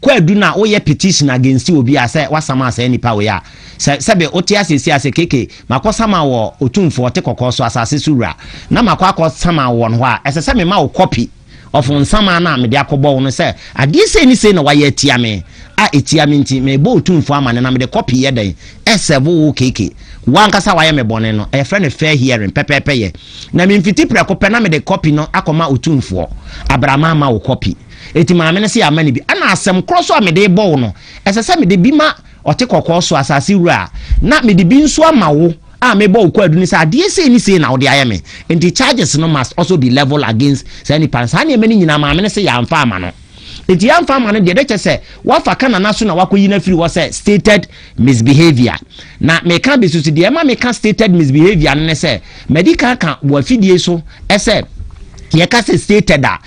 Kwadu na wo yɛ petition against obi a sɛ wa sama saa nipa wei a sɛ sɛbe wo te ase esi ase KK ma kɔ sama wɔ otumfo ɔte kɔkɔɔ so asase so wura na ma kɔ akɔ sama wo wɔn hɔ a ɛsɛ sɛ me ma wo copy of nsama na mede akɔ bɔ wo no sɛ adeɛ sei ne sei na wa yɛ atia me a etia me nti me bɔ otumfo ama ne na mede copy yɛ dɛn ɛsɛ bo wo KK wo ankasa wa yɛ me bɔne no ɛyɛ frɛ no fair hearing pɛpɛɛpɛ yɛ na me mfiti prɛko pɛ na mede copy no akɔ ma otumfoɔ abra ma ama wo copy Enti maame no se yɛ amane bi. Ɛna asɛm korɔ so a mede rebɔ wo no, ɛsɛ sɛ mede bi ma ɔte kɔkɔɔ so, asase wura, na mede bi nso ama wo a mebɔ wo kwaadu no sɛ adeɛ sei ne sei na wode ayɛ me. Enti charges no must also be level against saa nipa no. Saa nneɛma no nyinaa maame no se yɛamfa ama no. Enti yɛamfa ama no deɛ, ɛbɛkyɛ sɛ woafa ka nana so na woakɔyi no afiri hɔ sɛ stated misbehaviour. Na meka abɛsusu deɛ ɛma meka stated misbehaviour no ne sɛ, madi kan aka wɔ afidie so sɛ yɛka sɛ stated a,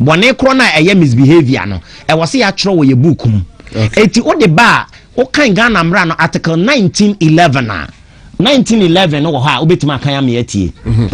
Bɔne korɔ no a ɛyɛ misbehaviour no, ɛwɔ sɛ yɛatwerɛ wɔ yɛ book mu. Okay. Eti wode ba a, wokan Ghana mmara no article 1911 a, 1911 no wɔ hɔ a wobɛtumi akan ame atie. Mhm.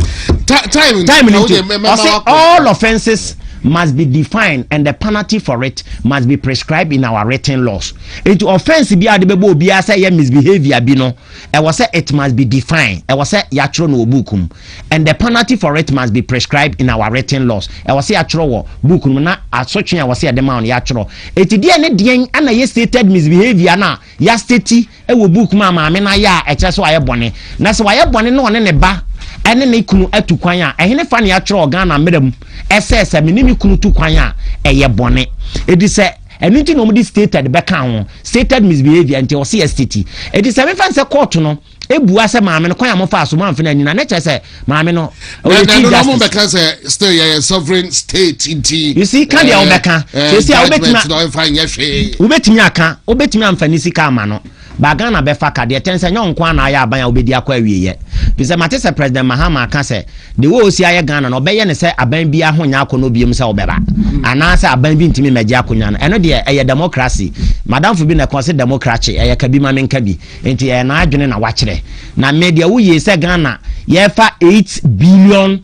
Time time no nti, ɔse all offences must be defined and the penalty for it must be prescribed in our written laws. Eti offence bi a de bɛbɔ obiara sɛ ɛyɛ misbehaviour bi no, ɛwɔ sɛ it must be defined. Ɛwɔ sɛ yɛatwerɛ no wɔ book mu. and the penalty for it must be prescribed in our written laws. Ɛwɔ sɛ yɛatwerɛ wɔ book no mu na asotwe a ɛwɔ sɛ yɛde ma wɔn yɛatwerɛ. Eti deɛ ne deɛn ana yɛ stated misbehavior na yɛasteti wɔ book mu a maame no ayɛ a ɛkyerɛ sɛ wayɛ bɔne. Na sɛ wayɛ bɔne na ɔne ne ba ɛne ne kunu atu kwan a ɛhene fa ne yɛatwerɛ wɔ Ghana mmerɛ mu ɛsɛ sɛ me ne me kunu tu kwan a ɛyɛ bɔne. Edi sɛ ɛno nti na wɔde stated bɛka ho stated misbehavior nti ɛwɔ sɛ yɛasteti. Eti sɛ mefa nsɛ kɔɔto no ebua sɛ maame no kwan a mo faa so mo anfena nyina ne kyerɛ sɛ maame no ɔyɛ chief justice. na mo bɛka sɛ still yɛyɛ sovereign state nti. you see kan deɛ wobɛka sɛsi a wobɛtumi wobɛtumi aka wobɛtumi anfa ne sika ama no ba ghana bɛfa ka deɛ tɛn sɛ nyɛ nko ana ayɛ aban a wobɛdi akɔ awieyɛ fi sɛ mate sɛ president mahama aka sɛ de wɔ ɔsi ayɛ ghana no ɔbɛyɛ ne sɛ aban bi aho nyɛ akɔnɔ biom sɛ wobɛba hmm. anaasɛ aban bi ntumi mmɛgye akonnwa no ɛno deɛ ɛyɛ democracy madamfo bi na ɛkɔ sɛ democracy ɛyɛ ka bi ma menka bi Nti ɛyɛ n'adwene na wakyerɛ. Na me deɛ woyie sɛ Ghana yɛfa 8 billion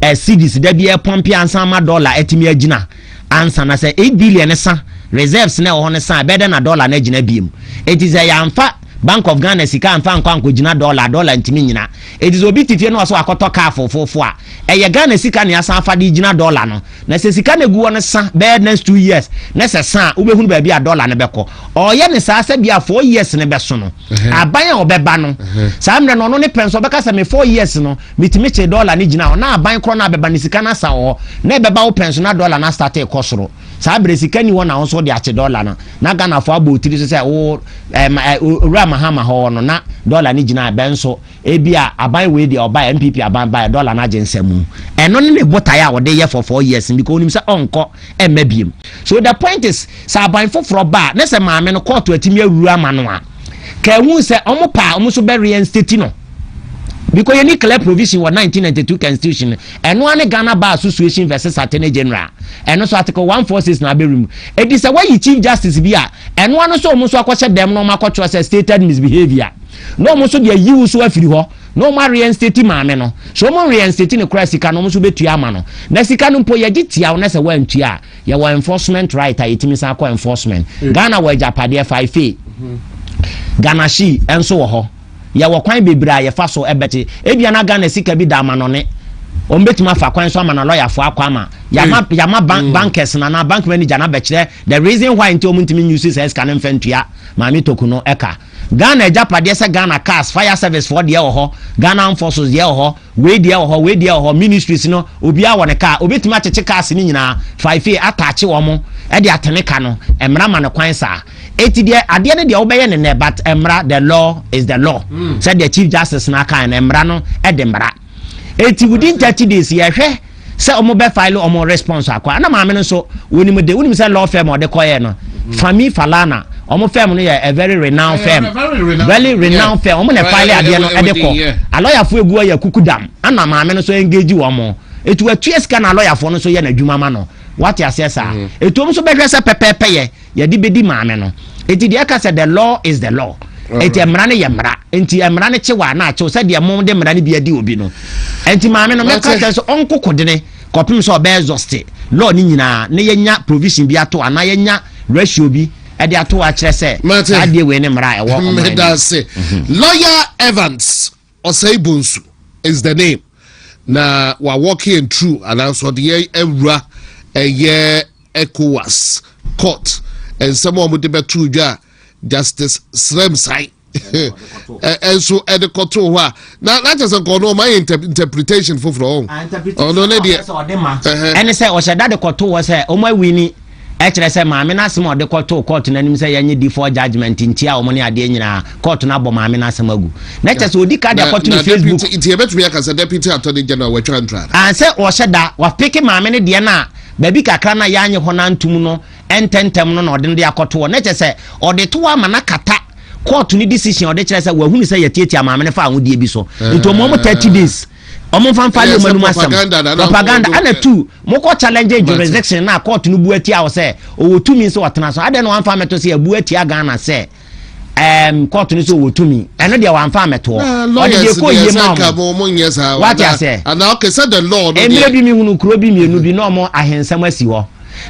eh, cedis da bi ɛpɔmpe ansa ama dɔla atumi agyina ansa na sɛ 8 billion ne sa reserves na ɛwɔ hɔ no sa ɛbɛdɛ na dɔla no agyina biem. Eti sɛ yɛamfa Bank of Ghana sika amfa ankɔ ankɔgyina dɔla dɔla ntumi nyina. Eti sɛ obi te fie na ɔsɛ wakɔtɔ kaa fofofo a ɛyɛ Ghana sika na yɛasan afa de gyina dɔla no. Na sɛ sika na egu hɔ no sa bɛyɛ next two years na sɛ sa a wobɛhunu baabi a dɔla no bɛkɔ. Ɔreyɛ no saa sɛ bia four years no bɛso no. Aban a ɔbɛba no saa mmerɛ no ɔno ne pɛ nso ɔbɛka sɛ me four years no metumi kyee dɔla no gyina hɔ na aban korɔ no abɛba no sika no asa wɔ hɔ na ɛbɛba wo pɛ nso na dɔla no astate rekɔ soro. Saa berɛ sika nni hɔ na wo nso wode akye dɔla no na Ghanafoɔ abɔ wo tiri so sɛ wo ɛɛ ma ɛɛ Owura Mahama hɔ no na dɔla no gyina bɛn nso Ebia aban wei deɛ ɔbaeɛ, NPP aban baeɛ, dɔla no agye nsa mu. Ɛno ne ne botaeɛ a ɔde yɛ for four years no because onim sɛ ɔnkɔ mma biom. So the point is, sɛ aban foforɔ ba a, na sɛ maame no kɔɔto atumi awuru ama no a, ka ehu sɛ wɔn pɛ a wɔn nso bɛ reinstate no. Because yɛni clear provision wɔ 1992 constitution no. Ɛno ara ne Ghana Bar Association versus Attorney General. Ɛno nso article 146 na abɛ remove. Edi sɛ wɔayi Chief Justice bi a, ɛno ara no nso wɔn nso akɔhyɛ dɛm na wɔn akɔtwerɛ sɛ stated misbehaviour. na ɔmo nso de ayi wo so afiri hɔ na ɔmo areɛnsteti maame no, sɛ ɔmo nreɛnsteti no koraa a sika no ɔmo nso bɛtua ama no, na sika no mpo yɛgye tia wo na sɛ woantua a yɛwɔ enforcement right a yɛtumi san kɔ enforcement. Ghana wɔ agyapadeɛ faefe, Ghanahyi, nso wɔ hɔ. Yɛwɔ kwan bebree a yɛfa so bɛte, ebia na Ghana sika bi da amanɔne, ɔmo bɛtumi afa kwan so ama no lɔyafoɔ akɔ ama, yɛama, yɛama bank, bankɛs no anaa bank manager no abɛkyerɛ the reason why nti ɔmo ntumi nyusi saa sika no mfa ntua maame Toku no ka. Ghana agyapadeɛ sɛ Ghana cars, fire service foɔ deɛ wɔ hɔ, Ghana armed forces deɛ wɔ hɔ, wei deɛ wɔ hɔ, wei deɛ wɔ hɔ, ministries no obiara wɔ ne car, obɛtumi akyekye cars no nyinaa, faifei attach wɔn de atene ka no, mmara ma no kwan saa. Enti deɛ adeɛ no deɛ wobɛyɛ no nnɛ but mmara, the law is the law, sɛdeɛ Chief Justice no akaeɛ no, mmara no de mmara. eti within thirty days yɛhwɛ sɛ wɔn bɛ file wɔn response akɔ ana maame no nso wɔnim de wɔnim sɛ law firm ɔde kɔyɛ no mm-hmm. fami falana wɔn firm no yɛ a very renowned firm very renowned firm wɔn na file adeɛ no ɛde kɔ alɔyafo egu ɔyɛ kuku dam ana maame no nso engage wɔn etu atua sika na alɔyafo no nso yɛ n'adwuma ma no wate aseɛ saa etu wɔn nso bɛhwɛ sɛ pɛpɛɛpɛ yɛ. yɛde bɛdi maame no nti deɛ ɛka sɛ the law is the law nti mm. mmara no yɛ mmara nti mmara no kye wa na akyew sɛdeɛ mo de mmara no bi adi obi no nti maame no mɛka sɛ sɛ ɔnko kodene kɔpem sɛ ɔbɛyɛ exhausted law no nyinaa na yɛnya provision bi ato anaa yɛnya ratio bi ɛde ato akyerɛ sɛ saa deɛ wei ne mmara a ɛwɔ ɔman no mhm. lawyer evans Ɔsɛe Bonsu is the name na wa walking and true ananso ɔde yɛn awura ɛyɛ ECOWAS court nsɛm a wɔde bɛto dwa a Justice Sremsai ɛnso ɛde kɔto hɔ a na n'akyɛ sɛ nkɔɔ no ɔma yɛ interpretation foforɔ ɔn ɔno ne deɛ ɛne sɛ ɔhyɛ da de kɔto hɔ sɛ ɔma awi ni ɛkyerɛ sɛ maame no asɛm a ɔde kɔtoo kɔɔto no anim sɛ yɛnye default judgement ntia wɔn ne adeɛ nyinaa, kɔɔto no abɔ maame no asɛm agu. Na kyerɛ sɛ ɔdi ka de akɔto ne Facebook. Na deputy, nti yɛbɛtumi aka sɛ deputy attorney general watwa ntra da? Aane, sɛ ɔhyɛ da, wapeke maame no deɛ no a, baabi kakra no a yɛanye hɔ no antom no ntɛntɛm no na ɔde no de akɔto hɔ. Na kyerɛ sɛ ɔde to hɔ ama no akata kɔɔto no decision a ɔde kyerɛ sɛ wahunu sɛ yɛtiatia maame no fa ahodeɛ bi so. Nti wɔn wɔn 30 days. ɔmo nfa nfa yɛ ɔmo anum asɛm propaganda ɛna tu mo kɔ challenge jurisdiction na court no bu atia wɔ sɛ ɔwɔ tumi nso ɔtena so adɛn na wɔn afa mɛto sɛ ɛbu atia Ghana sɛ ɛɛm court no so ɔwɔ tumi ɛno deɛ wɔn afa mɛtoɔ ɔde deɛ kɔ yie ma ɔmo wate asɛ ɛmɛ bi mi hunu kuro bi mmienu bi na ɔmo ahensɛm asi hɔ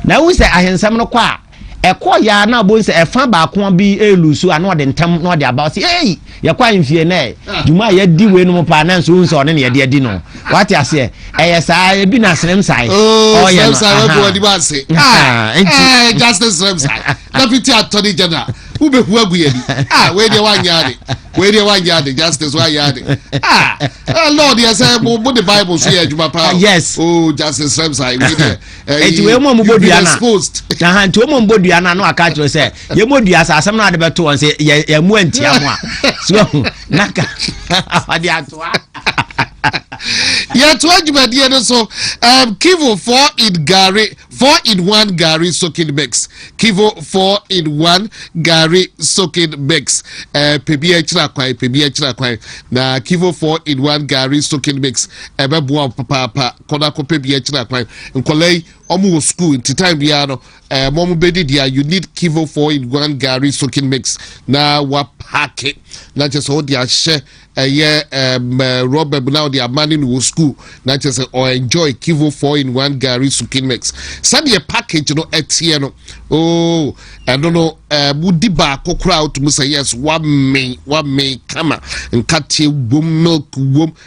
na ehu sɛ ahensɛm no kɔ a. Ɛkɔɔeɛ ara na ɔbɔhu sɛ ɛfa baako bi reluusu a na ɔde ntɛm na ɔde aba ɔse ei yɛkɔ ahemfie nɛ dwuma a yɛadi wei nom paa nanso wohu sɛ ɔne ne yɛde adi no wate aseɛ ɛyɛ saa ebi na serem sae oh, ɔyɛ no deputy attorney general wobɛhu agu yɛni ah, wei deɛ woanyɛ ade wei deɛ woanyɛ ade justice woanyɛ ade ah, eh, lord yɛ sɛ mode bible so yɛ adwuma paa yes oh, justice serem sae wei deɛ nti wei mu ɔmobɔ dua no a nti wɔn mu ɔmobɔ dua no a na waka akyerɛ sɛ yɛmɔ dua sɛ asɛm no ade bɛto wɔn sɛ yɛmu antia mu a so ahu na ka ɔde atoa yɛtoa dwumadie no so um, kivo 4 in gari 4 in 1 gari soaking mix kivo 4 in 1 gari soaking mix uh, pɛbi akyira kwan pɛbi akyira kwan na kivo 4 in 1 gari soaking mix ɛbɛboa papaapa kɔ na kɔ pɛ bi akyina kwan nkɔla yi ɔmo wɔ school nti time biara no ɛɛ mo ɔmo bɛ di dia you need kivo four in one gari soaking mix na wa paaki na kyerɛ sɛ ɔde ahyɛ ɛyɛ ɛɛ rɔba mu na ɔde ama ne no wɔ school na kyerɛ sɛ ɔ enjoy kivo four in one gari soaking mix sɛdeɛ package no ɛteɛ no ooo oh, ɛno no ɛɛ mo di baako koraa ɔtumi sɛ yes wa mmee wa mmee kama nkateɛ wom milk wom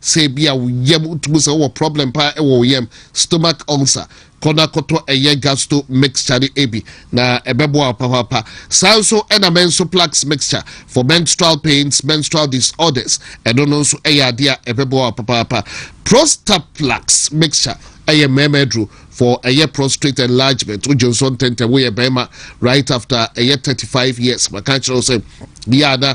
Sɛ ebia wo yam tu mu, sɛ wowɔ problem paa wɔ wo yam, stomach ulcer, kɔ na kɔtɔ ɛyɛ Gasto mixture no bi na ɛbɛboa wo papaapa. Saa nso na Mensoplax mixture for menstrual pains, menstrual disorders, ɛno no nso yɛ adeɛ a ɛbɛboa wo papaapa. Prostaplax mixture ɛyɛ mmarima aduro for ɛyɛ prostrate enlargement. Wogye nso ntɛntɛm woyɛ barima right after ɛyɛ 35 years. Maka kyerɛ wo sɛ, yɛ a na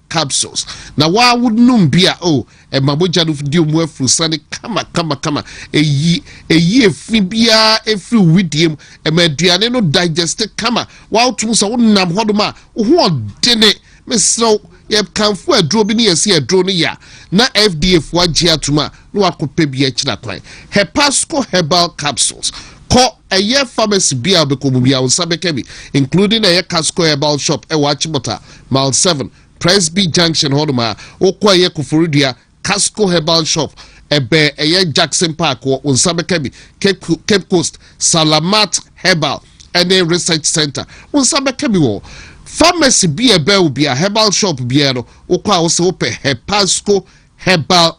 capsules na waa wo nom bi a o oh, ɛma mogya no di omu afuru sane kama kama kama eyi eyi efi biara efiri widie mu ɛma aduane no digest kama waa wotum sɛ wonam hɔ nom a wo ho ɔdene mesrɛw yɛkanfo aduro bi ne yɛsi aduro no yɛ na fda fo agye atum a na wakɔpɛ bi akyira kwan hepasco herbal capsules kɔ ɛyɛ pharmacy bi a bɛkɔ mu bi a wo nsa bɛka bi including ɛyɛ casco herbal shop ɛwɔ akyemɔta Mile seven, Presby Junction hɔ nom a, wokɔ ɛyɛ Koforidua, Casco Herbal Shop, ɛbɛn ɛyɛ Jackson Park wɔ wo nsa bɛka bi, Cape, Cape Coast, Salamat Herbal ɛne Research Center, wo nsa bɛka bi wɔ hɔ. Pharmacy bi a ɛbɛn wo bia, Herbal Shop biara no, wokɔ a wosɛ wopɛ Hepasco Herbal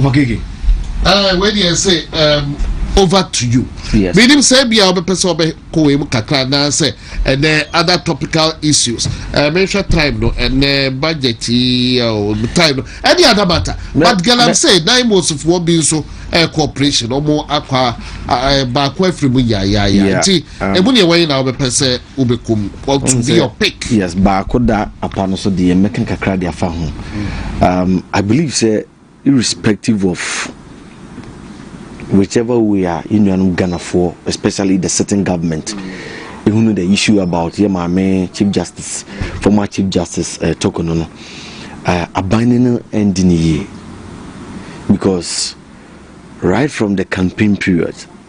Ɔkeke. Ɛɛ wei deɛ sɛ ɛɛm over to you. Yes. Menim sɛ bia ɔbɛpɛ sɛ ɔbɛkɔ wei mu kakra anaasɛ ɛnɛ other topical issues. Ɛɛ mehwɛ time no ɛnɛ budget yi ɛɛ m- time no ɛne other matter. Mɛ- But girl I'm mɛ- saying nine months foɔ bi nso ɛɛ cooperation ɔmo akɔ a- a- ɛɛ baako afiri mu yaayaaya Yeah, nti um, emu deɛ wɔn nyinaa wɔbɛpɛ sɛ wobɛkɔ mu what to be your pick. yes baako da apa no so deɛ mɛka kakra de afa ho um, i believe sɛ irrespective of whichever way a yɛ nuanom ghanafoɔ especially the sitting government ehunu the issue about yɛ maame chief justice former chief justice uh, toko no no uh, aban no no ɛndi ne yie because right from the campaign period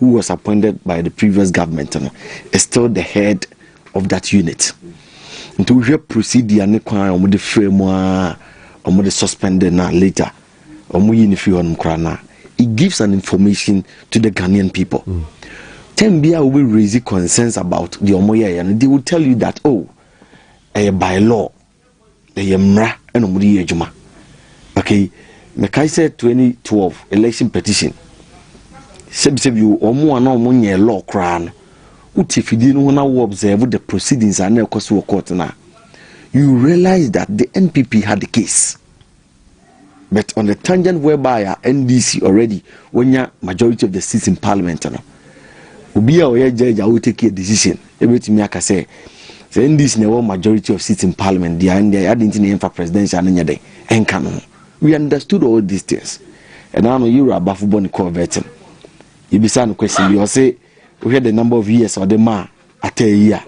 who was appointed by the previous government no is still the head of that unit nti wohwɛ procedure ne kwan a wɔde frɛ mu a wɔde suspend na later wɔyi no firi hɔnom koraa na it gives an information to the ghanaian people mm. time bi a wobɛ raise concerns about deɛ wɔyɛeɛ no they will tell you that oh ɛyɛ by law Ɛyɛ mmara na wɔde yɛ adwuma. Okay, mekae sɛ 2012 election petition, sɛbisɛbi o, wɔn a na wɔn nyɛ law koraa no, wote fidie no ho na wo observe the proceedings a na ɛkɔ so wɔ court no a, you realize that the NPP had the case. But on the tangent whereby a NDC already wonya majority of the seats in parliament no obi a ɔyɛ judge a wo take a decision ebetumi aka sɛ sɛ NDC na ɛwɔ majority of seats in parliament deɛ ɛndeɛ adi nti na yɛmfa presidential no nyɛ dɛ ɛnka no ho we understood all these things ɛna no yɛwura abafo bɔ ne kɔɔ vɛtin yɛbisa no question bi ɔse Wohwɛ the number of years a ɔde maa atɛɛ yi a,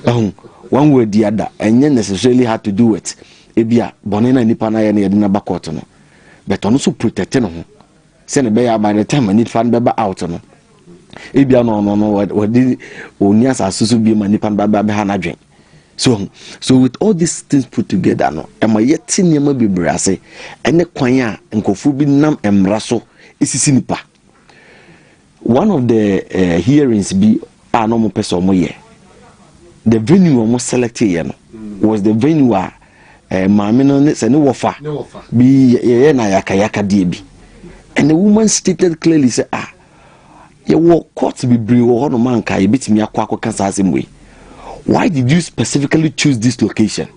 ahu, wɔn wɔ adi ada, ɛnyɛ necessarily had to do it. Ebi a, bɔne na nipa no ayɛ no yɛde no aba court no, but ɔno nso protect ne ho. Sɛ ne bɛyɛ by the time a nipa no bɛba out no, ebi a no ɔno no wɔde ɔni asase so bi ma nipa no bɛba bɛha n'adwen. So, so with all these things put together no, ɛma yɛte nneɛma bebree ase, ɛne kwan a nkurɔfoɔ bi nam mmara so esisi nipa. One of the uh, hearings bi a na wɔn pɛ sɛ wɔn yɛ the venue wɔn select yɛ no mm. was the venue a eh, maame no ne sɛ ne wɔfa bi yɛyɛ na yakayaka deɛ bi and the woman stated clearly sɛ ah yɛwɔ court bebree wɔ hɔ nom anka yɛbɛtumi akɔ akɔka saa asɛm wei why did you specifically choose this location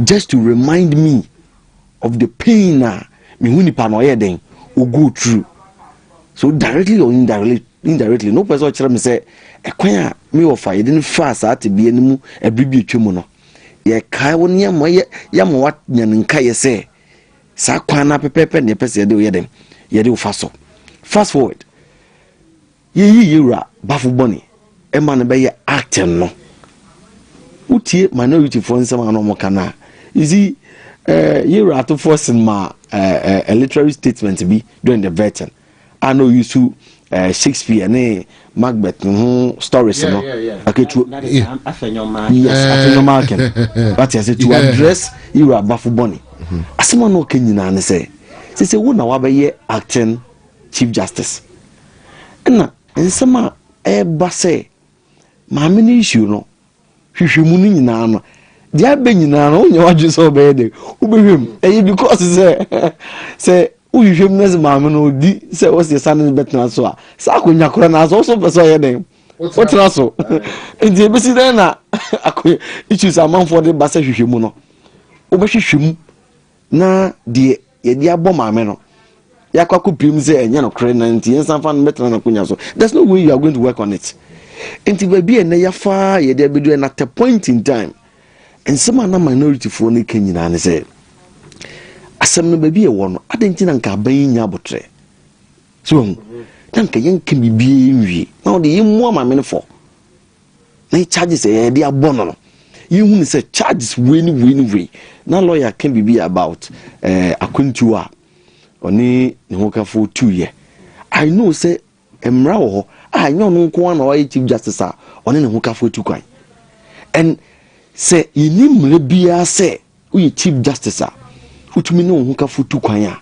just to remind me of the pain a mehu nipa no ɔyɛ dɛn o go through so directly or indirectly indirectly no pɛ sɛ ɔkyerɛ me sɛ ɛkwan a me wɔfa yɛde no faa saa tebea no mu ɛbere bi atwa mu no yɛkae wo nneɛma yɛ yɛma wanya no nkaeɛ sɛ saa kwan no apɛpɛɛpɛ ne yɛpɛ sɛ yɛde woyɛ dɛn yɛde wofa so fast forward Yeyi yɛn wura bafo bɔne ma no bɛyɛ acting no. Wotie minority foɔ nsɛm a na wɔn ka no a, you see, eh, yɛn wura atofoɔ sen ma eh, eh, a literary statement bi during the vetting a na oyi so eh, Shakespeare ne Macbeth no ho stories no. Yeah, yeah, yeah. Okay, to that, that yeah. Afenyomakin. Yes, eh. Afenyomakin. What I say to yeah. address yɛn wura bafo bɔne. Mm-hmm. Asɛm a na ɔka nyinaa ne sɛ, sɛ sɛ wo na wabɛyɛ acting. Chief Justice ɛna nsɛm a ɛreba sɛ maame no issue no hwehwɛ mu no nyinaa no deɛ abɛ nyinaa no wonyɛ wadwene sɛ ɔbɛyɛ dɛ wobɛhwɛ mu ɛyɛ because sɛ sɛ wohwehwɛ mu no sɛ maame no ɔdi sɛ wɔsɛ sa no bɛtena so a saa akonnwa kora no asɛ wosɛ wopɛ sɛ ɔyɛ dɛn wotena so nti ɛbɛsi dɛn na issues amanfoɔ de ba sɛ hwehwɛ mu no wobɛhwehwɛ mu na deɛ yɛde abɔ maame no yɛakɔ akɔpirim sɛ ɛnyɛ nokorɛ na nti yɛnsan fa no bɛtena n'akonya so there's no way you are going to work on it nti baabi a ɛnɛ yɛafaa yɛde abɛdu ɛna at a point in time nsɛm a na minorityfoɔ no ka nyinaa ne sɛ asɛm no baabi ɛwɔ no adɛn nti na nka aban yi nya abotrɛ so wahu na nka yɛnka biribiaa nwie na wode yɛmmua ma menefɔ na yɛ charges a yɛde abɔ no no yɛhu ne sɛ charges wei ne wei ne wei na lawyer ka biribi about eh, akwantuo a ɔne ne hokafo tuiɛ i know sɛ mmara wɔ hɔ a ɛnyɛ ɔno nko ara na ɔyɛ chief justice a ɔne ne hokafo tu kwan and sɛ yɛni mmara biara sɛ Woyɛ Chief Justice a, wotumi ne wo hokafo tu kwan a,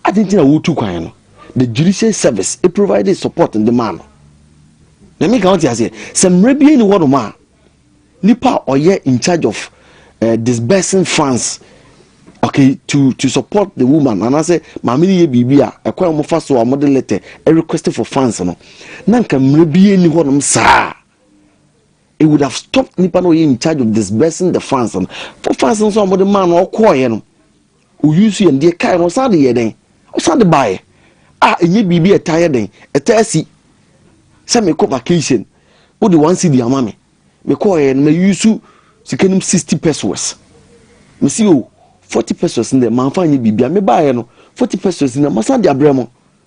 adɛn nti na woretu kwan no? The Judiciary Service provided support de maa no. Na meka wote aseɛ, sɛ mmerɛ bi ani hɔnom a, nipa a ɔyɛ in charge of uh, disbursing funds okay to to support the woman anaasɛ maame no yɛ biribi a ɛkwan a wɔfa so a wɔde letter request for funds no na nka mmerɛ bi ani hɔnom saa It would have stopped nipa na ɔyɛ in charge of disbursing the funds no for funds nso a wɔde maa no ɔkɔɔyɛ no oyi nso yɛn deɛ kae no ɔsan de yɛ dɛn ɔsan de baeɛ a ɛnyɛ biribi a ɛtaa yɛ dɛn ɛtaa si sɛ mekɔ vacation wode one cedi ama me mekɔɔyɛ no mayi so sika no sixty pesos mesi o forty pesos no dɛ manfa nyɛ biribi a mebaeɛ no forty pesos no masan de abrɛ mo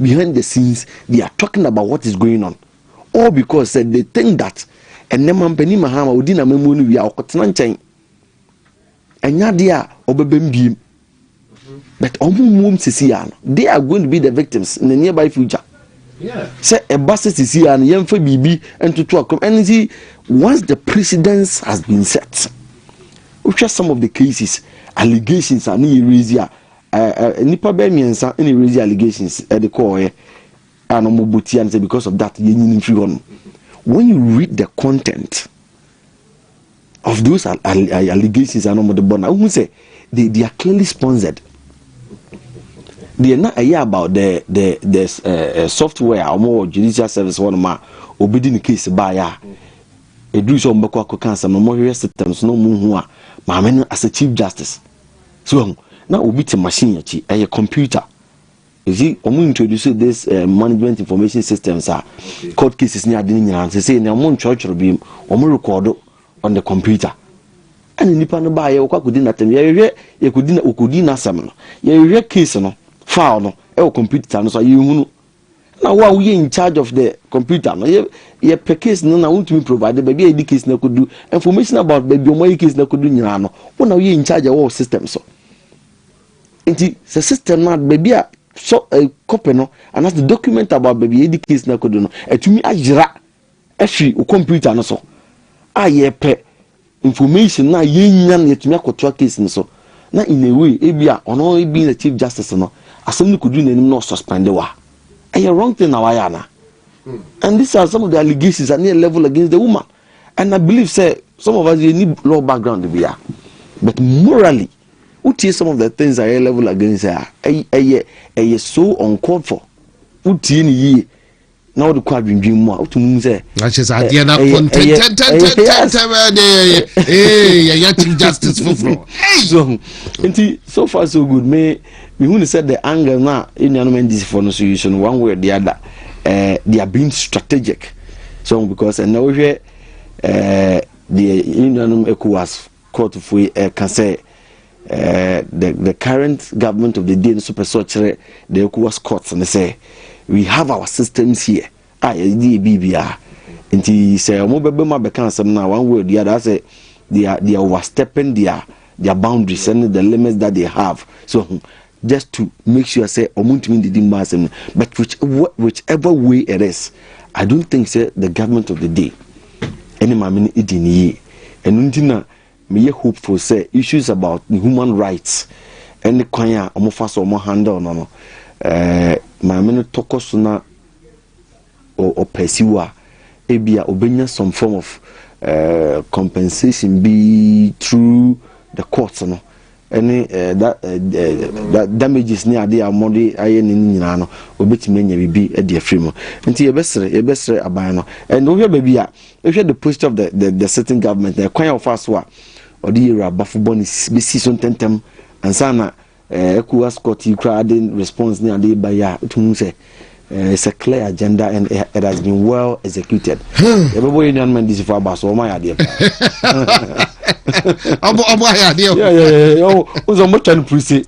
behind the scenes they are talking about what is going on all because sɛ they think that ɛnɛ mampanin mahama odi na mɛmuo no wia ɔkɔtena nkyɛn ɛnyɛ adeɛ a ɔbɛbɛm biem but wɔn muom sisi ya no they are going to be the victims in the nearby future sɛ ɛba sɛ sisi ya no yɛn fɛ biribi ntoto akɔm ɛne si once the precedence has been set wohwɛ some of the cases allegations a ne yɛ raise a Nnipa bɛyɛ mmiɛnsa na ɛrezi allegations de kɔɔeɛ a na wɔbɔ tia no sɛ because of that yɛnyini mfiri hɔ no when you read the content of those allegations a na wɔde bɔ no wohu sɛ they, they are clearly sponsored deɛ na ɛyɛ about the the the uh, uh, software a wɔwɔ judicial service hɔ nom a obedi ne case baayɛ a ɛduru sɛ wɔbɛkɔ akɔka asɛm no wɔhwehwɛ systems na wɔhu a maame no as a chief justice So wahu? Na obi te machine akyi, ɛyɛ computer. You see, wɔn introduce this uh, management information systems a court cases ne ade ne nyinaa sɛ sɛ nea wɔn ntwerɛtwerɛ bi wɔn rekɔdo on the computer ɛna nipa no baa yɛ wɔkɔ akɔdi n'atɛm yɛhwehwɛ yɛkɔdi na wɔkɔdi n'asɛm no yɛhwehwɛ case no file no ɛwɔ computer no so a yɛhunu na wo a woyɛ in charge of the computer no yɛ yɛpɛ case no na wontumi provide baabi a yɛde case no akɔdu information about baabi ɔmo ayɛ case no akɔdu nyinaa no wo na woyɛ in charge ɛwɔ system so nti sɛ system no baabi a so uh, copy no anaasɛ document about baabi yɛde case no akɔdu no atumi ayera Ɛfi wo kɔmputa no so a yɛpɛ information no a yɛnya no yɛtumi akɔtoa case no so na in a way ebi a ɔno ebi na chief justice no asɛm no kɔduru n'anim na ɔsuspende wa ɛyɛ wrong thing na wayɛ ana hmm. and these are some of the allegations and near level against the woman and I believe sɛ some of us yɛ ni law background bi a but morally wotie some of the things a yɛ level against a ɛyɛ ɛyɛ so uncalled for wotie ne yie. na wode kɔ adwendwen mu a wotumi hu sɛ akyɛ sɛ adeɛ no akɔ ntɛntɛntɛntɛntɛyɛyɛ chief justice foforɔ nti so far so good me mehu ne sɛ the angle no a ɛnuanom ndcfoɔ no so yi so no one way or the other uh, they are being strategic so because ɛnɛ wohwɛ uh, deɛ ɛnuanom ecowas Courtfoɔ yi ɛka sɛ the the current government of the day nso pɛ sɛ ɔkyerɛ the ECOWAS courts no sɛ we have our systems here a yɛde yɛ biribiara nti sɛ wɔn bɛbɛ mu abɛka asɛm no a one way or the other asɛ they are they are overstepping their their boundaries and the limits that they have so just to make sure sɛ ɔmo ntumi ndidi mma asɛm no but which which ever way it is i don't think sɛ the government of the day ɛne maame no edi ne yie ɛno nti na meyɛ hopeful sɛ issues about the human rights ɛne kwan a ɔmo fa so ɔmo handle no no ɛɛ eh, maame no tɔkɔ so na ɔpursue a, ebia obenya some form of compensation bi through the court no ɛne that damages ne ade a wɔde ayɛ ne nyinaa no obetumi anya biribi de afiri mu nti yɛbɛsrɛ yɛbɛsrɛ aban no ɛnna wohwɛ baabi a wohwɛ the posture of the the, the sitting government na ɛkwan a wɔfa so a ɔde yɛ wura abafo bɔ ne besi so ntɛntɛm ansa na Eh Ecowas court yi koraa de response ne ade ba yi a wotum hu sɛ eh, it's a clear agenda and it has been well executed hmm. yɛbɛbɔ yɛ nuanom ndisifo aba so ɔma yɛ adeɛ ɔbɔ ɔbɔ ayɛ adeɛ o sɛ ɔmɔtwa no puruse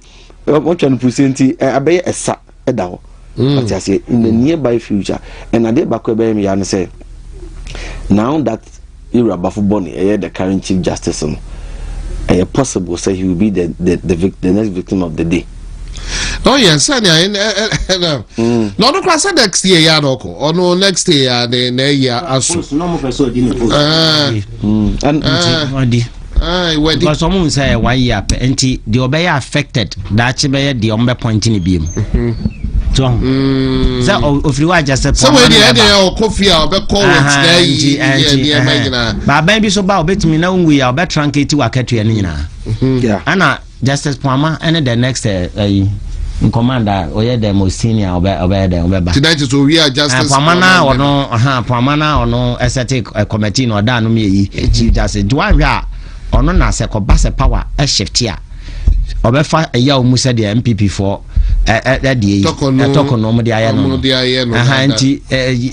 ɔmɔtwa no puruse nti eh, abɛyɛ ɛsa da hɔ hmm. ɔte aseɛ in the hmm. nearby future and adeɛ baako ɛbɛyɛ me ya no sɛ now that ewurabafo bɔne ɛyɛ the current chief justice no ɛyɛ possible sɛ he will be the the the, vic, the next victim of the day. Oh yeah, sani ayi na na na ɔno kora sɛ next year ya na ɔkɔ ɔno next year ya na na eyi aso. ɛɛ ɛɛ. because ɔmo nsɛ one year pɛ nti deɛ ɔbɛyɛ affected daakye bɛyɛ deɛ ɔmo bɛ point ne biem tɔn mm. sɛ ofiri wa agya sɛ pɔn sɛ wei deɛ ɛdeɛ yɛ ɔkɔ fie a ɔbɛkɔ wɔ tena yi yɛ nneɛma nyinaa baaban bi so ba ɔbɛtumi na ɔngu yɛ a ɔbɛtra nka ti wɔ akatua no nyinaa mm-hmm. ɛna Justice Poama ɛne the next eh, ɛyi nkɔmand a ɔyɛ the most senior ɔbɛ ɔbɛyɛ dɛ ɔbɛba. Ti na kyerɛ sɛ owie a justice. Poama na ɔno ha Poama na ɔno ɛsɛte kɔmɛti na ɔda anom yɛ yi chief justice nti wahwɛ a ɔno na sɛ kɔba sɛ power ɛshifte a ɔbɛfa ɛyɛ a wɔn sɛ deɛ npp foɔ ɛdeɛ yi ɛtɔkɔ no wɔn de ayɛ no no ɛha nti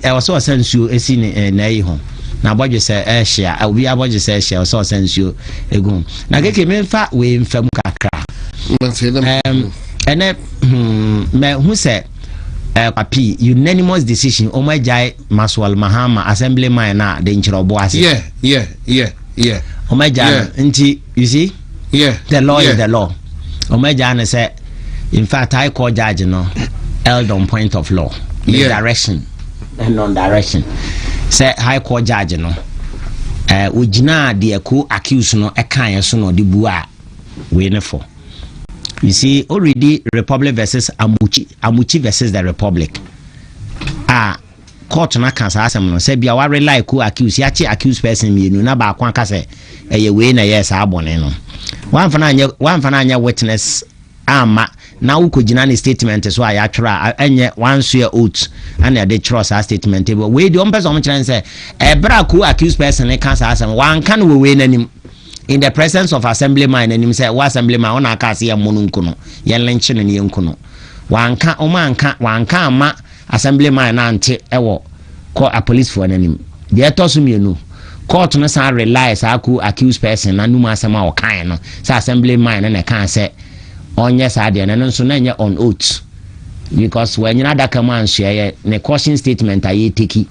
ɛwɔ sɛ ɔsɛ nsuo esi ne n'ayi ho na abɔdwe sɛ ɛhyia obi abɔdwe sɛ ɛhyia ɔsɛ ɔsɛ nsuo egu ho. na keke memfa wei mfa mu kakra ɛnɛ mahu hmm, sɛ eh, papi unanimous decision ɔmo agyae maswal mahama assembly man no a de nkyerɛ ɔbo ase ɔmo agyae no nti you see yeah. the law yeah. is the law ɔmo agyae no sɛ in fact high court judge no held on point of law the yeah. direction non direction sɛ high court judge no eh, ogyinaa deɛ ko accuse no ɛkaeɛ so na ɔde bu a wei ne fɔ you see already republic versus amuchi amuchi versus the republic a court no aka saa asɛm no sɛ bia wa rely ko accuse yɛakye accuse person mmienu na baako aka sɛ ɛyɛ wei na ɛyɛ saa bɔne no wamfa no anyɛ witness amma na wo kɔ gyina ne statement so a yatwerɛ a ɛnyɛ one swear oath ɛna ɛde twerɛ saa statement bi wei deɛ ɔmpɛ sɛ ɔmo kyerɛ sɛ ɛberɛ a ko accused person ne ka saa asɛm wanka no wɔ wei n'anim in the presence of assembly man n'anim sɛ wo assembly man ɔna aka ase yɛn mmɔ no nku no yɛn lenkye no ne yɛn nku no wanka ɔmo anka wanka amma Assembly man no ante wɔ kɔ apolicefoɔ no anim. Deɛ ɛtɔ so mmienu, court no san rely saa ko accused person no anum asɛm a ɔkaeɛ no sɛ Assembly man no na ɛkaa sɛ ɔnyɛ saa deɛ no, ɛno nso na ɛnyɛ on oath because wanyina adaka mu ansoɛeɛ, ne caution statement a yɛteki.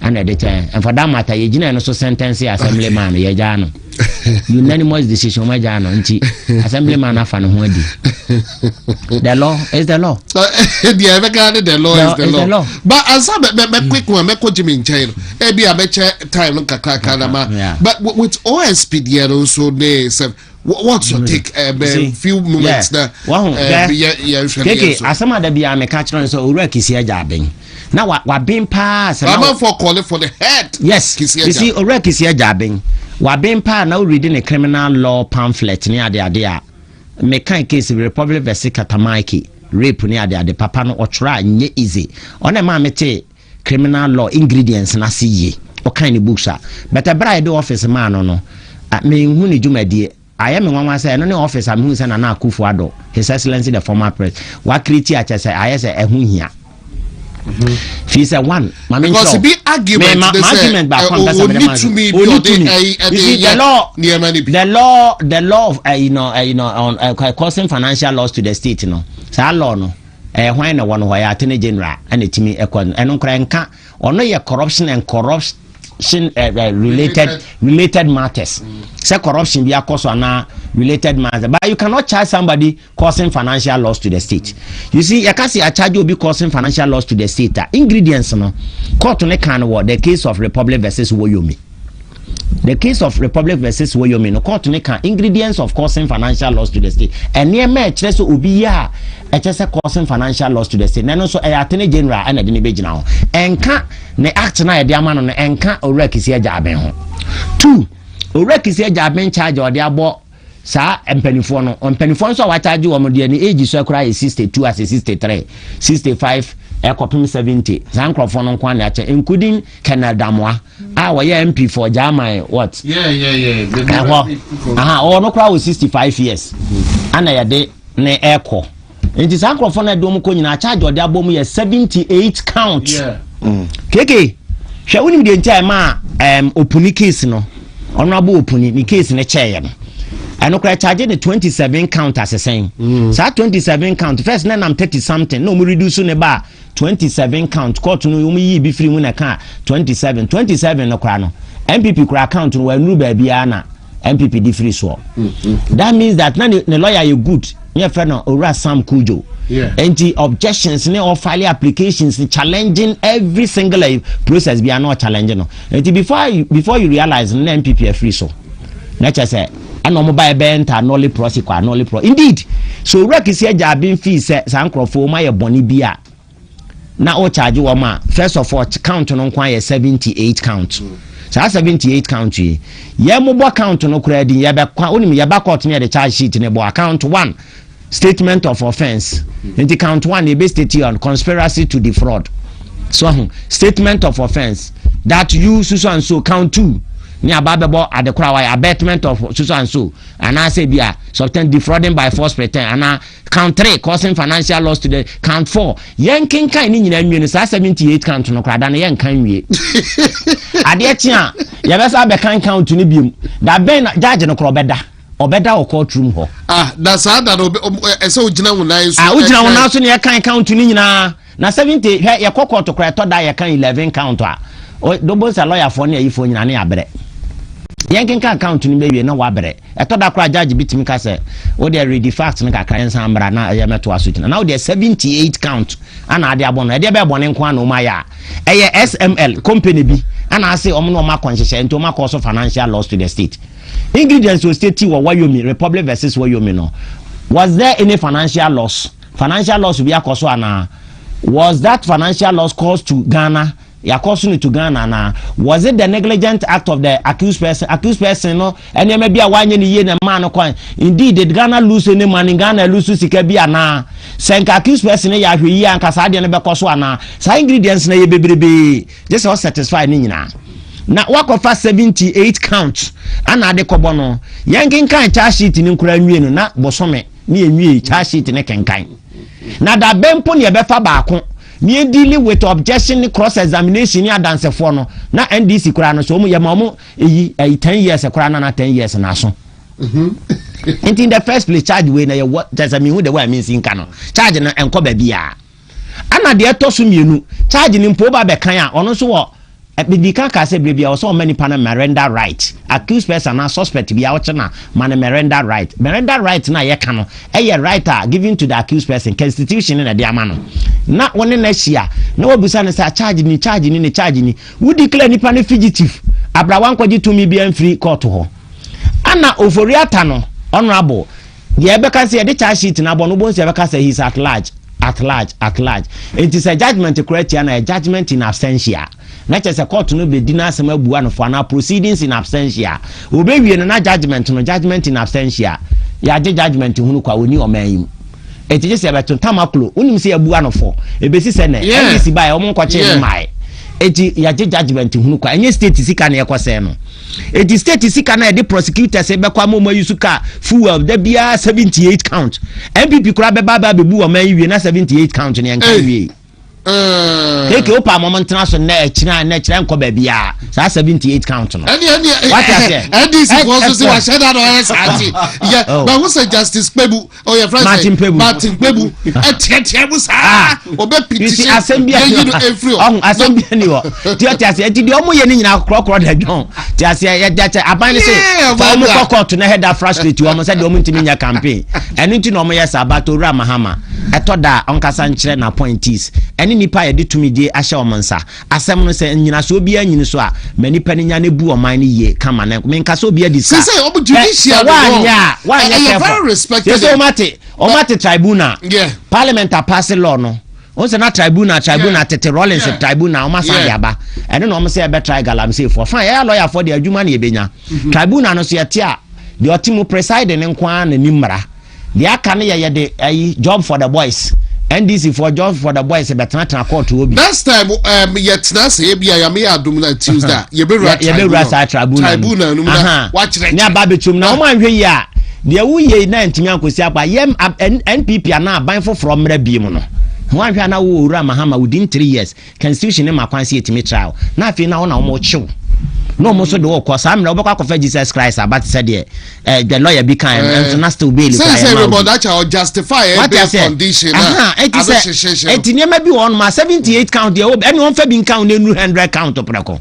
Ɛna ɛde kyɛ yɛn. And for that matter, yɛ gyina ɛno so sentence assembly man no, yɛ gyaa no. Unanimous decision, ɔma gyaa no. Nti, assembly man afa ne ho adi. The law is the law. Ebi a ɛbɛka ne the law is the law. But ansa bɛ bɛ bɛ quick one, bɛ kɔ Jimmy nkyɛn no. Ebi a bɛkyɛ time no kakra kakra na ma. But with OSP deɛ no nso ne sɛ. what's your mm. take eh, bɛn few moments na eh, yɛnhwɛ ne yɛn so asɛm ada biara meka kyerɛ no sɛ owura kisi agya aben na waben paa sɛ amanfoɔ kɔle for the head yes kisi owura kisi agya aben waben paa na woredi ne criminal law pamphlet ne adeade a meka case republic versi katamaiki rape ne adeade papa no ɔtwerɛ a nyɛ easy ɔna ɛma mete criminal law ingredients no ase yie. Ɔkan ne books a, but ɛberɛ a yɛde office maa no no, menhu ne dwumadie. Ayɛ me nwanwa sɛ ɛno ne office a mehu sɛ Nana Akufo Addo, His Excellency the former pres, wakiriti a kyɛ sɛ ayɛ sɛ ɛho hia. Mm-hmm. fi sɛ one maame n sɛ bi argument ma argument baako an pɛsɛ mɛdɛ ma oni tumi isi the law the law the law of uh, you know, uh, you know, on, uh, causing financial loss to the state no saa law no. Ɛyɛ hwan na wɔn hɔ? Ɛyɛ attorney general na ɛtumi kɔ no. Ɛno koraa ɛnka. Ɔno yɛ corruption and corruption uh, uh, related related matters. Sɛ corruption bi akɔ so anaa related matters. But you cannot charge somebody causing financial loss to the state. You see, yɛka sɛ yɛacharge obi causing financial loss to the state a ingredients no court ne kan wɔ the case of Republic versus Woyomi. The Case of Republic vs. Wyoming no, kɔɔto no ka ingredients of causing financial loss to the state. Nneɛma a ɛkyerɛ sɛ obi yɛ a ɛkyɛ sɛ causing financial loss to the state. Na ɛno nso ɛyɛ atene general ɛna ɛde no bɛgyina ho. Ɛnka ne act no a ɛde ama no no ɛnka owura kisi agya aben ho. Two, owura kisi agya aben charge a ɔde abɔ saa mpanimfoɔ no mpanimfoɔ nso a wɔakyagye wɔn deɛ ne age so koraa yɛ sixty two ase sixty three sixty five ɛkɔpem seventy saa nkurɔfoɔ no nko ara na akyɛ including colonel damoa a wɔyɛ mp for german what ɛhɔ aha ɔwɔ no koraa wɔ sixty five years ana yɛde ne ɛkɔ nti saa nkurɔfoɔ no ɛde wɔn kɔ nyinaa charge ɔde abɔ mu yɛ seventy eight count mm. keke hwɛ wonim deɛ nti a ɛma ɛm opuni case no ɔno abo opuni ne case no kyɛɛyɛ no ɛno koraa charge ne twenty seven count asesɛn mm. saa twenty seven count first na nam thirty something na wɔn reduce ne ba a. twenty seven count court no wɔn yii bi firi mu na ɛkaa twenty seven twenty seven no koraa no npp koraa count no wɔanuru baabiara na npp de firi soɔ mm-hmm. that means that na ne ne lawyer yɛ good ne yɛ fɛ no owura sam kujo nti objections ne ɔfile applications challenging every single eh, process bi a na ɔchallenge no nti before before you realize na npp afiri so na kyɛ sɛ. ɛna wɔn ba ɛbɛyɛ nta anɔle prɔsi kɔ anɔle prɔ indeed so owura kisi agya abin fi sɛ saa nkorɔfoɔ wɔn ayɛ bɔnne bi a na ɔkyaagye wɔn a first of all count no nko ayɛ seventy eight count saa seventy eight count yi yɛn mo bɔ count no koraa din yɛbɛkwa onim yɛba court no yɛde charge sheet ne bɔ account one statement of offence nti count one ebe state on conspiracy to defraud so ahu statement of offence that you susu and so count two ne aba abɛbɔ adekora wa abetment of susu and so anaasɛ bi a substance defrauding by force pretend ana count three causing financial loss to the count four yɛn kenkan ne nyinaa nwie no saa seventy eight count no koraa da no yɛn kan nwie adeɛ kye a yɛbɛsa abɛkan count no biom da bɛn na gyaagye no korɔ bɛda. ɔbɛda wɔ court room hɔ. ah na saa da no ɛsɛ ogyina wo nan so. ah ogyina wo nan so na yɛkan count no nyinaa na seventy hwɛ yɛkɔ court kora ɛtɔ da yɛkan eleven count a dobo nsa lɔyafoɔ ne ayifoɔ nyinaa ne abrɛ yɛnkenkan count no bɛwie na wabrɛ ɛtɔ da kora judge bi tumi ka sɛ wodeɛ read the facts no kakra yɛnsan mmra na ɛyɛ mɛtoa so gyina na wodeɛ seventy eight count ana ade abɔ no ɛdeɛ bɛɛ bɔne nko ana ɔma yɛ a ɛyɛ sml company bi ana ase ɔmo na ɔma kɔ nhyehyɛ nti ɔma kɔ so financial loss to the state Ingredients wɔ state wɔ Wyoming, Republic versus Wyoming no. Was there any financial loss? Financial loss bi akɔ so anaa? Was that financial loss caused to Ghana? Yɛakɔ so no to Ghana anaa? Was it the negligent act of the accused person? Accused person no nneɛma bi a wanyɛ no yie na ɛmaa no kwan. Indeed, did Ghana lose any money? Ghana lose sika bi anaa? Sɛ nka accused person no yɛ ahwɛ yie anka saa adeɛ no bɛkɔ so anaa? Saa ingredients na yɛ bebrebee. gye sɛ ɔsatisfy ne nyinaa na wakɔfa 78 count ana ade kɔbɔ no yɛnkenkan charge sheet no nkora nwie no na bosome ne yɛnwie charge sheet no kenkan na da bɛn mpo ne yɛbɛfa baako ne yɛdili with objection ne cross examination ne adansefoɔ no na ndc koraa no so ɔmo yɛma ɔmo eyi ɛyi ten years koraa na na ten years na aso mhm. nti in the first place charge wei na yɛwɔ kyɛ sɛ mehu de wɔ a mensi nka no charge no ɛnkɔ baabiaa Ɛna deɛ ɛtɔ so mmienu, charge no mpo ba bɛkan a, ɔno nso wɔ mede ka kaa sɛ berɛ bia wɔ sɛ ɔma nipa no merenda right accused person anaa suspect bia wokye na ma no merenda right merenda right no a yɛka no ɛyɛ right a given to the accused person constitution na ɛde ama no na wo ne no ahyia na wabusa no sɛ charge ni charge ni ne charge ni wo declare nipa no fugitive abrawa nkɔgye tumi bia mfiri court hɔ ana ofori ata no honorable Deɛ ɛbɛka sɛ yɛde charge sheet no abɔ no wobɛhu sɛ ɛbɛka sɛ he is at large, at large, at large. Enti sɛ judgement kora tia no a ɛyɛ judgement in absentia. Na kyerɛ sɛ court no bɛdi n'asɛm abua no fɔ anaa proceedings in absentia. Wɔbɛwie no na judgement no, judgement in absentia. Yɛagye judgement hunu kwa, ɔnni ɔman yi mu. Enti gye sɛ yɛbɛto Tamaklo, wonim sɛ yɛabua no fɔ. Ɛbɛsi sɛ nɛ, Yeah. NDC baeɛ wɔn nkɔkyee no Yeah. mmaeɛ. Enti yɛagye judgement hunu kwa. Ɛnyɛ state sika na yɛkɔsɛe no. Eti state sika na yɛde prosecutors bɛkɔ ama wɔn ayi so ka fuel da biara seventy eight count. NPP koraa bɛba aba abɛbu wɔn ayi wie na seventy eight count ne nka wie. Keke o pa mo ntena so na ɛkyerɛ na ɛkyerɛ nkɔ baabi a saa seventy eight count no. Ɛni ɛni ɛdi si fɔ so si wa hyɛ da na ɔyɛ saa ti. Yɛ bɛ ho sɛ justice pɛ bu. ɔyɛ oh, fɛn sɛ martin kpebu ɛtiɛtiɛ mu saa ɔbɛ piti se yɛyi no efiri hɔ. ɔhun asɛm bi ni hɔ tiɛ tiɛ se eti deɛ ɔmo yɛ ne nyinaa korɔkorɔ dɛ dɔn tiɛ se yɛ dɛ sɛ aban ne se fa ɔmo kɔ kɔɔto na ɛhɛ da frustrate ɔmo sɛ deɛ ɔmo ntumi nyɛ campaign ɛno nti na ɔmo yɛ saa bato owura mahama ɛtɔ da ɔnkasa nkyerɛ na appointees ɛne nipa yɛ de tumi die ahyɛ ɔmo nsa Asɛm no sɛ nnyinasoɔ biara nyini so a ma nnipa no nya no bu ɔman no yie ka ma no menka sɛ obi adi sa sɛ woanyɛ a woanyɛ kɛfɔ sɛsɛ ɔmate ɔmate tribunal parliament apase law no wọn sɛ na tribunal tribunal tete rollins tribunal wọn asan de aba ɛne na wɔn sɛ ɛbɛ try galamsey fo fan yɛyɛ lɔya fo de adwuma na yɛbɛnya mhm. tribunal no so yɛte a deɛ ɔte mu preside ne nko ara na ni mmara Deɛ aka no yɛ yɛde ayi job for the boys NDC foɔ job for the boys bɛtenatena court wɔ bi. Next time um, yɛtena ase ebi a yame yɛ adum na Tuesday a yɛbɛwura tribunal saa tribunal no mu na wakyerɛ ne aba bɛtum na wɔn anhwɛ yi a deɛ woyɛ na ntumi ankɔsi akwa yɛ NPP anaa aban foforɔ mmerɛ bi mu no wɔn anhwɛ a na wowɔ wura mahama within three years Constitution no ma kwan sɛ yɛtumi tra hɔ, na afei na hɔ na wɔkye wo, na wɔn nso de wo rekɔ. Saa mmerɛ wobɛkɔ akɔfa Jesus Christ aba te sɛ deɛ eh, the lawyer bi kan no, nso na still bail kura yɛ ma wo bi. Wate aseɛ? Aha, eti sɛ, eti nneɛma bi wɔ hɔ nom a seventy eight count deɛ ɛwɔ bi, ɛne wɔn fa bi nka wo na enuru hundred count prɛko.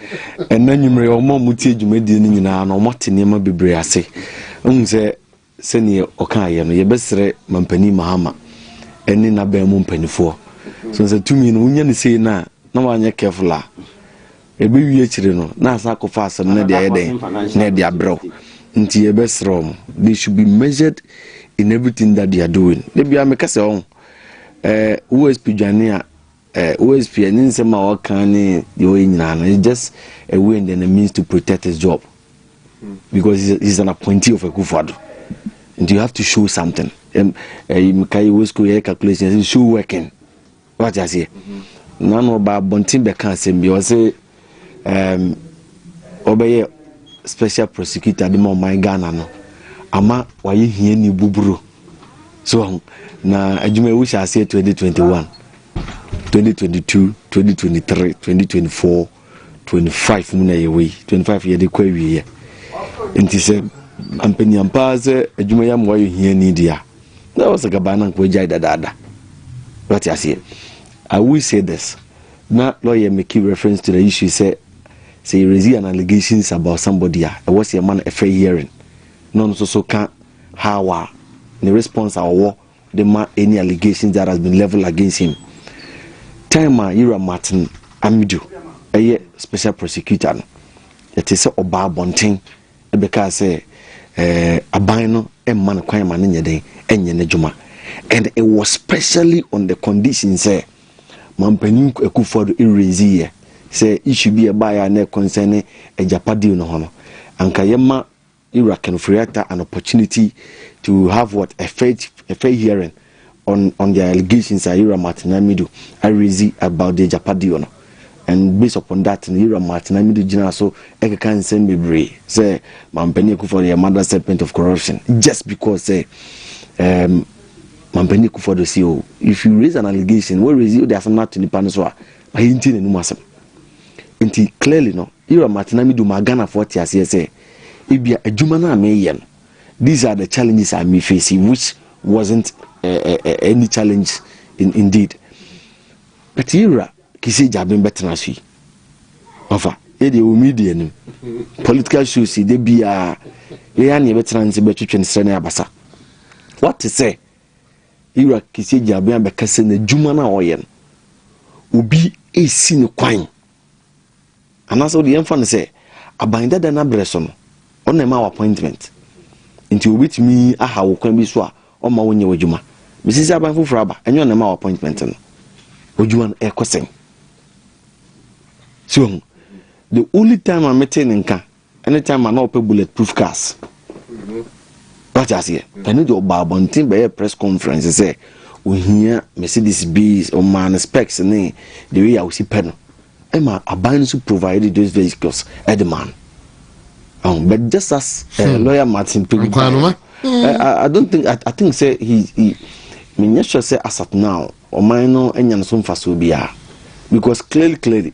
Ɛnnɛ anwummere, wɔn a wɔtie dwumadie no nyinaa no, wɔate nneɛma bebree ase. Wohu sɛ sɛdeɛ ɔkaeɛ no, yɛbɛsrɛ Mampanin Mahama ne n'abɛn mu mpanimfoɔ. So sɛ tumi no wonya no sei no a, na wanyɛ careful a, ɛbɛwie akyire no, na asa akɔfa asɛm no de ayɛ dɛn na ɛde abrɛ wo. Nti yɛbɛsrɛ wɔn, they should be measured in everything that they are doing. Da biara meka sɛ ɔho, eh, OSP dwane a, Eh, OSP, eh, ne nsɛm a ɔka ne deɛ ɔyɛ nyinaa no, it's just a way and then a means to protect his job. Hmm. Because he's, he's an appointee of Akufo-Addo. And you have to show something. Um, uh, Mkai Wesko, yeah, calculation, show working. What I say? Mm-hmm. Nano ba bontin beka asem bi, ɔse, ɔbɛyɛ special prosecutor de ma ɔman ghana no ama wayɛ hiani buburo so ho na adwuma yi wohyɛ aseɛ 2021 2022 2023 2024 25 mu na yɛwɔ yi 25 yɛde kɔ awieɛ nti sɛ mpanyam paa sɛ adwuma yi ama wayɛ hiani deɛ a na wɔ sɛ gabaa no anka wagyae dadaada wate aseɛ i will say this Na lɔya me key reference to the issue sɛ sɛ yɛ raise an allegations about somebody a ɛwɔ sɛ yɛma no a fair hearing na ɔno nso so ka how a ne response a ɔwɔ de ma any allegations that has been level against him time a yɛwura Martin Amidu ɛyɛ special prosecutor no ɛte sɛ ɔbaa abɔnten ɛbɛkaa sɛ ɛɛ eh, aban no mma no kwan ma no nyɛ den ɛnyɛ n'adwuma and it was specially on the condition sɛ Mampanyin Akuffo Addo eredzi yɛ sɛ issue bi a ɛbaeɛ a na ɛ concern ne agyapa deal no ho no, anka yɛma Ewura Ken Ofori-Atta an opportunity to have what, a fair a fair hearing on on their allegations a Ewura Martin Amidu aredzi about the agyapa deal no. And based upon that no, Ewura Martin Amidu gyinaa so kɛkaa nsɛm bebree sɛ Mampanyin Akuffo Addo yɛ mother serpent of corruption just because sɛ um, Manpanin Kufuor Addo se oh, if you raise an allegation, wo raise, wode asem no ato nipa no so a, ma yɛntie n'anum asem. Nti clearly no, Ira Martinami de ɔmaa Ghanafoɔ te aseɛ sɛ, ebia adwuma no a meyɛ no, these are the challenges I may face, which wasn't uh, uh, uh, any challenge in, indeed. But Ira kisi gyaben bɛtena so yi, ɔfa, yɛde ɛwɔ media nim, political shows yi, da biara, yɛyɛ a ne yɛbɛtena ne sɛ bɛtwetwe ne serɛ ne abasa. Woate sɛ Ira kɛseɛ gyinabea abɛka sɛ n'adwuma no a ɔyɛ no, obi resi no kwan. Anaasɛ wode yɛmfa no sɛ aban dada no abrɛ so no, ɔna ɛma wo appointment. Nti obɛtumi aha wo kwan bi so a ɔma wonyɛ w'adwuma. Mesi sɛ aban foforɔ aba, ɛnyɛ ɔna ɛma wo appointment no. W'adwuma no ɛrekɔ sɛn? So the only time a metee ne nka Anytime a na ɔpɛ bullet proof cars. Wate aseɛ? Ɛno deɛ ɔbaa abɔnten bɛyɛ press conference sɛ ohia Mercedes Benz, ɔmaa no specs ne the way a osi pɛ no. Ɛma aban no so provide those vehicles ɛde maa no. Oh, but just as uh, hmm. lawyer Martin Pegu, uh, I, I don't think I, I think say he he me nyɛ sure sɛ asat now ɔman no anya no so mfasoɔ biara because clearly clearly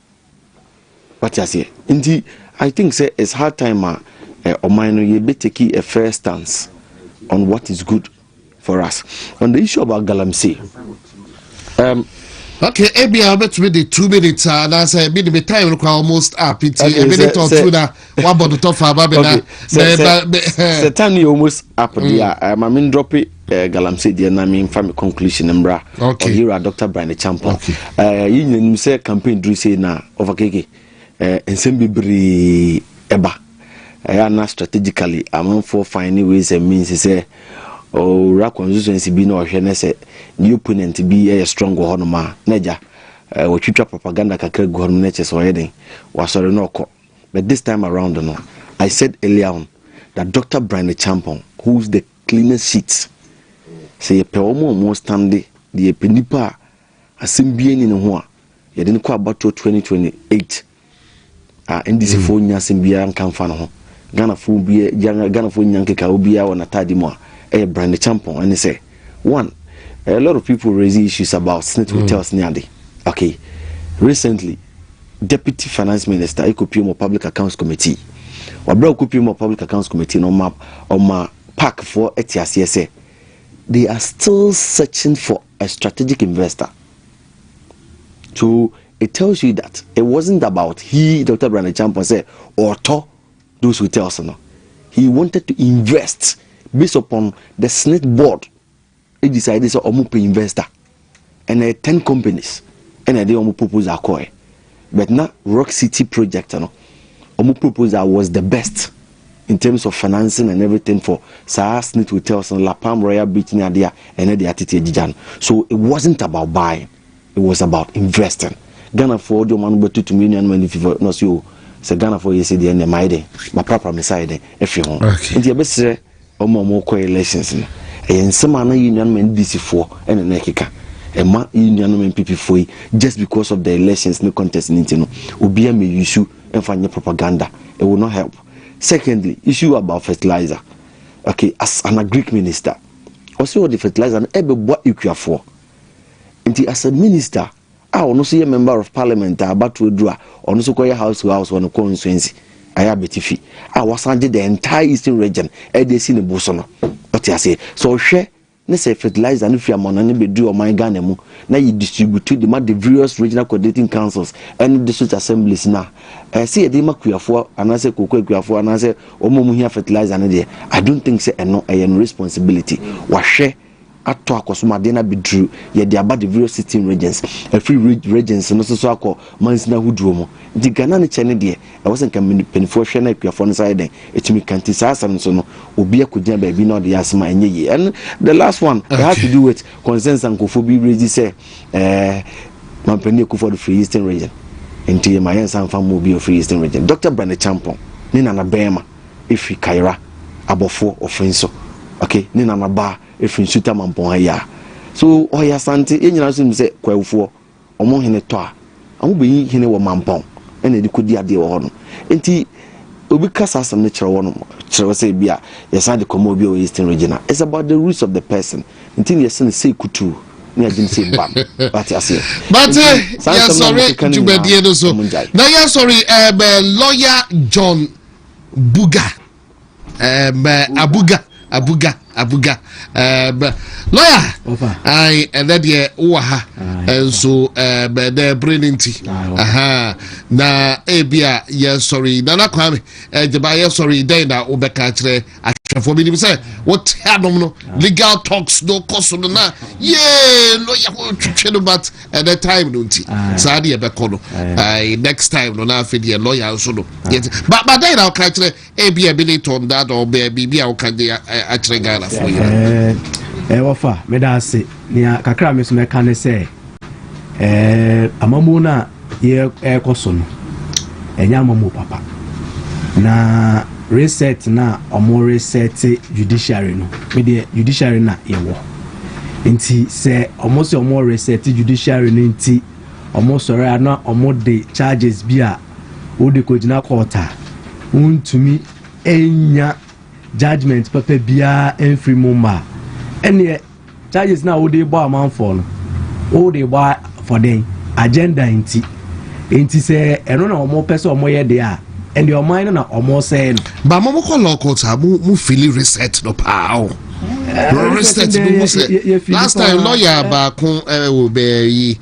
Wate aseɛ? Nti I think sɛ it's high time a eh, ɔman no yɛbɛ take a fair stance on what is good for us. On the issue about galamsey, um, okay ebi a wobɛtumi de two minutes a anaasɛ ebi de me time no kora almost up nti ebi de tɔ two na wabɔ no tɔ fa ba me na sɛ time no yɛ almost up deɛ a ma me ndrɔpe Eh, galamsey deɛ na memfa me conclusion mmra okay. ɔyera dr brine champa okay. uh, eh, yɛnyina nim sɛ campaign duru sei na ɔfakeke uh, eh, nsɛm bebree ɛba ɛyɛ ana strategically amanfoɔ fine ne ways and means sɛ owura constituency bi na ɔhwɛ ne sɛ ne opponent bi yɛ strong wɔ hɔnom a na agya wɔtwitwa propaganda kakra gu hɔnom no kyɛ sɛ ɔyɛ den wasɔre na ɔkɔ but this time around no i said earlier on that dr brine champon who is the Cleaner sheet, Sɛ yɛpɛ wɔn a wɔ'stande de yɛpɛ nipa a asɛm biara nni ne ho a, yɛde no kɔ abatoɔ 2028 a NDC foɔ nnya asɛm biara nka mfa ne ho. Ghana foɔ biara, Ghana foɔ nnya nkeka obiara wɔ n'ataade mu a ɛyɛ brand ne kyampɔn ɛne sɛ, one, a lot of people raise issues about snit hotels ne ade, okay, recently, Deputy Finance Minister ekopue mu Public Accounts Committee. Wɔ bere a okopue mu Public Accounts Committee no, ɔma ɔma pac foɔ te aseɛ sɛ they are still searching for a strategic investor. So it tells you that it wasn't about he, Dr. Brandon Champon, sɛ ɔtɔ those hotels no. He wanted to invest based upon the SSNIT board decide sɛ ɔmo pɛ investor ɛna ɛyɛ ten companies ɛna ɛde ɔmo proposal kɔɛ but na rock city project no ɔmo proposal was the best in terms of financing and everything for saa snit hotels and la palm royal beach ne ade a ɛnɛ de atete agyigya no so it wasn't about buying it was about investing Ghana ghanafoɔ de ɔmo ano bɛto tumi nnuanom ani fifo na ɔsi o sɛ ghanafoɔ yɛ sɛ deɛ ɛnɛ mayɛ dɛ maprapra me sa yɛ dɛ ɛfi ho nti yɛbɛsrɛ Wɔn a wɔkɔ elections no, ɛyɛ nsɛm a na yɛn nuanom NDC foɔ na na ɛkeka. Ɛma yɛn nuanom NPP foɔ yi, just because of the elections ne contest no nti no, obiara may use ɛmfa nyɛ propaganda. It will not help. Secondly, issue about fertilizer. Okay, as an agric minister, ɔsɛ ɔde fertilizer no ɛbɛboa ekuafoɔ. Nti as a minister, a ɔno nso yɛ Member of Parliament a abatoɔ aduru a ɔno nso kɔyɛ House to House wɔ ne constituency ayɛ abɛtifi a wasan gye the entire Eastern region ɛde asi ne bo so no ɔte aseɛ sɛ ɔhwɛ ne sɛ fertilizer no firi amɔnɔ no bɛduru ɔman Ghana mu na yɛ distribute de ma the various regional coordinating councils ɛne district assemblies no a ɛɛ sɛ yɛde ma kuafoɔ anaasɛ koko akuafoɔ anaasɛ wɔn a wɔhia fertilizer no deɛ I don't think sɛ ɛno ɛyɛ no responsibility wahwɛ atɔ akɔsom adeɛ no abɛduru yɛde aba the various sixteen regions ɛfiri regions no soso akɔ mansini ahodoɔ mu nti Ghana ne kyɛ ne deɛ ɛwɔ sɛ nka mpanimfoɔ hwɛ na akuafoɔ no nsa yɛ dɛn ɛtumi ka nti saa asɛm no so no obi akɔgyina baabi na ɔde yɛ asɛm a ɛnyɛ yie and the last one it has to do with consensus nkurɔfoɔ bi rezi sɛ eh, mampanin akufo do firi eastern region nti ma yɛnsa mfa mmɔ obi ofiri eastern region dr brane champon ne nana bɛrima Efiri Kaira abɔfoɔ ɔfin so ok ne nana baa efiri nsuta mampɔn ha yaa so ɔyɛ asante yɛ nyinaa nso nim sɛ kwaawufoɔ ɔmo hene tɔ a ɔmo bɛ yi hene wɔ mampɔn ɛna ɛde kɔ di adeɛ wɔ hɔ nom nti obi ka saa asɛm no kyerɛ wɔ nom kyerɛ wɔ sɛ ebi a yɛ san de kɔmɔ obi wɔ eastern region a it's about the roots of the person nti ne yɛ sɛ ne sɛ kutuu ne agyim sɛ mba no wate aseɛ bate yɛ sɔre dwumadie no so na yɛ sɔre ɛɛ lɔya john Buga. Um, uh, Abuga. Abuga. Abuga. Um, lawyer. Opa. I, and that year, Waha. And so, um, the brain inti. Aha. Na, ebia, yeah, sorry. Nana Kwame. Eh, Jeba, yeah, sorry. Then, na, obeka, chre, ahwɛfoɔ menim sɛ wote anom no legal talks no kɔ so no na yee lɔya ho twetwe no but ɛnɛ eh, time no nti saa deɛ ɛbɛkɔ no eh, next time no na afei deɛ lɔya nso no badɛn na woka kyerɛ ebi a bi ne tɔn dada ɔbɛɛ biribi a woka de akyerɛ ghanafoɔ yɛ ɛwɔfa meda ase nea kakra me so mɛka ne sɛ Ɛɛ, amammuo no a ɛrekɔ so no, ɛnyɛ amammuo papa. Na reset no a wɔresɛte judiciary no, me deɛ judiciary na yɛwɔ. Nti sɛ wɔn sɛ wɔn resɛte judiciary no nti, wɔn sɔre a na wɔn de charges bi a wɔde kɔgyina court a, wɔntumi nya judgement papa biara mfiri mu mma a, ɛneɛ Charges no a wode rebɔ amanfoɔ no, wode rebɔ for dɛn? Agenda nti. Nti sɛ ɛno na wɔpɛ sɛ wɔyɛ deɛ a, ɛnde ɔman no na wɔresɛe no. Ba mo mokɔ law court a, mo mo fili reset no paa o. Eh, reset no mu sɛ last time lawyer baako eh, wɔ bɛɛ yi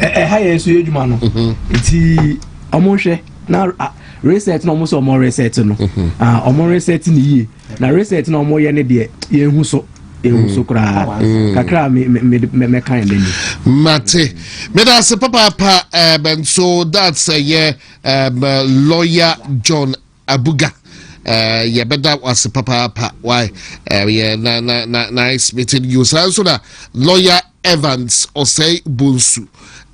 ɛha yɛ nso yɛ adwuma no mhm. nti ɔmo nhwɛ na reset na ɔmo sɛ ɔmo reset no mhm. ah, ɔmo reset ne yie na reset na ɔmo yɛ ne deɛ yɛn hu so ehu so mm. koraa mm. kakra me me me me kan ne ni. mate meda ase papaapa ɛɛ eh, bɛnso that's ɛyɛ eh, ɛɛ eh, lawyer john Abuga eh, yɛbɛda wase papaapa why eh, yɛ na na na nice meeting you saa nso na lawyer evans ɔsɛe bonsu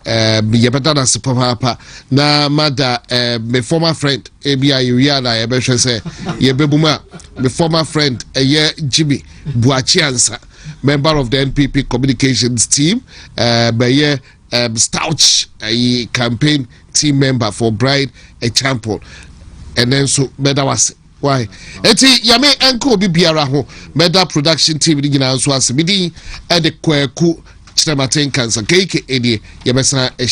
eh, yɛbɛda no ase papaapa na mada eh, me former friend ebi a yɛwie a na yɛbɛhwɛ sɛ yɛbɛbu mu a me former friend ɛyɛ eh, jimmy buakye ansa member of the npp communications team eh, bɛyɛ um Stouch ayi campaign team member for Bride Acheampong ɛnɛ nso mɛda wase why eti yame ɛnka obi biara ho mɛda production team ni nyinaa nso ase midi ɛde kwaku kyerɛmaten kansa keike edie yɛbɛsan ɛhyɛ.